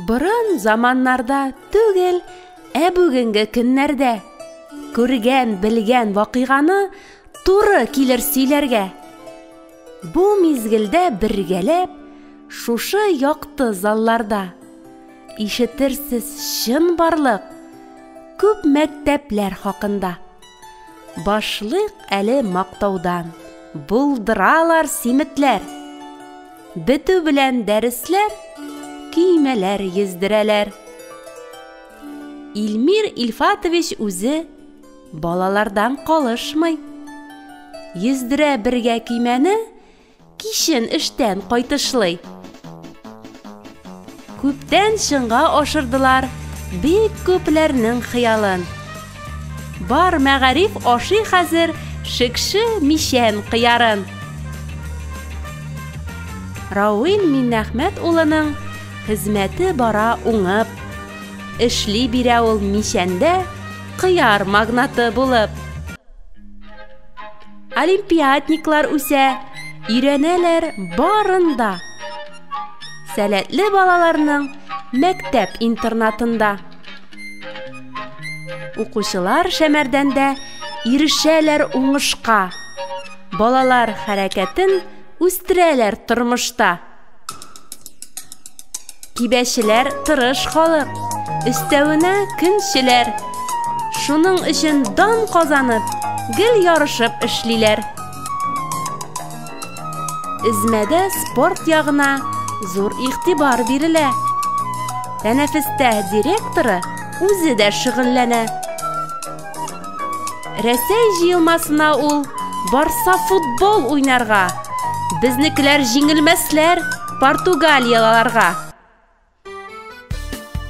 Борын заманнарда түгел, ә бүгенге көннәрдә күргән, белгән вакыйганы туры килер сөйләргә. Бу мизгелдә бергәләп шушы якты залларда ишетерсез чын барлык күп мәктәпләр хакында. Башлык әле мактаудан. Булдыралар симетләр. Бетү белән дәресләр көймәләр йөздерәләр. Илмир Ильфатович үзе балалардан калышмый. Йөздерә бергә көймәне, кичен эштән кайтышлый. Күптән чынга ашырдылар бик күпләрнең хыялын. Бар мәгариф ашый хәзер шекше мичән кыярын. Рауил Миннәхмәт улының хезмәте бара уңып. Эшли бирә ул мичәндә кыяр магнаты булып. олимпиадниклар үсә, өйрәнәләр барында. Сәләтле балаларның мәктәп интернатында. Укучылар шәмәрдәндә ирешәләр уңышка. Балалар хәрәкәтен үстерәләр тормышта. Кибәчеләр тырыш халык, өстәвенә көнчеләр. Шуның өчен дан казанып, гел ярышып эшлиләр. Эзмәдә спорт ягына зур игътибар бирелә. Тәнәфестә директоры үзе дә шөгыльләнә. Рәсәй җыелмасына ул барса футбол уйнарга. Безнекеләр җиңелмәсләр Португалиялыларга.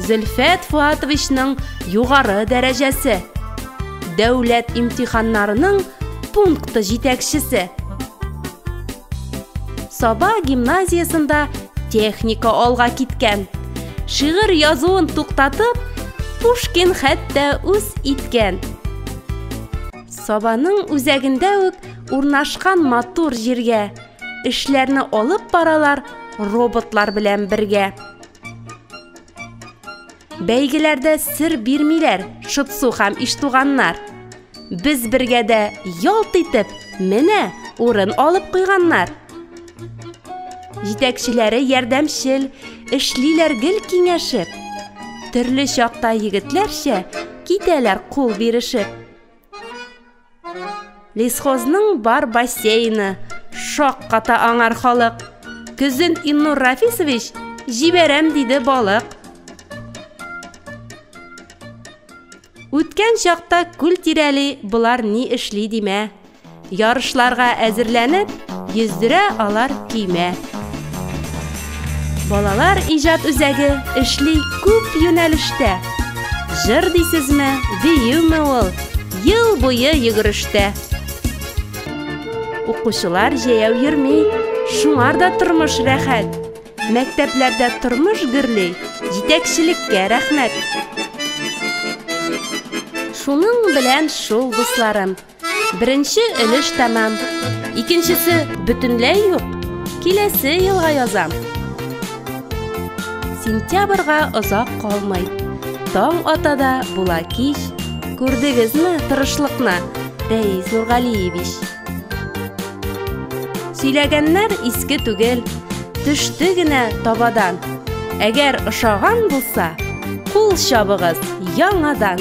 Зөлфәт Фуатовичның югары дәрәҗәсе. Дәүләт имтиханнарының пункты җитәкчесе. Саба гимназиясендә техника алга киткән. Шигырь язуын туктатып, Пушкин хәтта үз иткән. Сабаның үзәгендә үк урнашкан матур җиргә эшләрне алып баралар роботлар белән бергә. Бәйгеләрдә сер бирмиләр Шытсу һәм Иштуганнар. Без бергә дә ялт итеп, менә урын алып куйганнар. Җитәкчеләре ярдәмчел, эшлиләр гел киңәшеп. Төрле чакта егетләрчә китәләр кул бирешеп. Лесхозның бар бассейны, шак ката аңар халык. Көзен Иннур Рафисович җибәрәм диде балык. Үткән чакта күл тирәли болар ни эшли димә. Ярышларга әзерләнеп, йөздерә алар көймә. Балалар иҗат үзәге эшли күп юнәлештә. Җыр дисезме, биюме ул, ел буе йөгерештә. Укучылар җәяү йөрми, шуңар да тормыш рәхәт. Мәктәпләрдә тормыш гөрли, җитәкчелеккә рәхмәт. Шуның белән шул, дусларым. Беренче өлеш тәмам. Икенчесе бөтенләй юк. Киләсе елга язам. Сентябрьга озак калмый. Таң ата да була кич. Күрдегезме тырышлыкны, Рәис Нургалиевич? Сөйләгәннәр иске түгел, төште генә табадан. Әгәр ошаган булса, кул чабыгыз яңадан.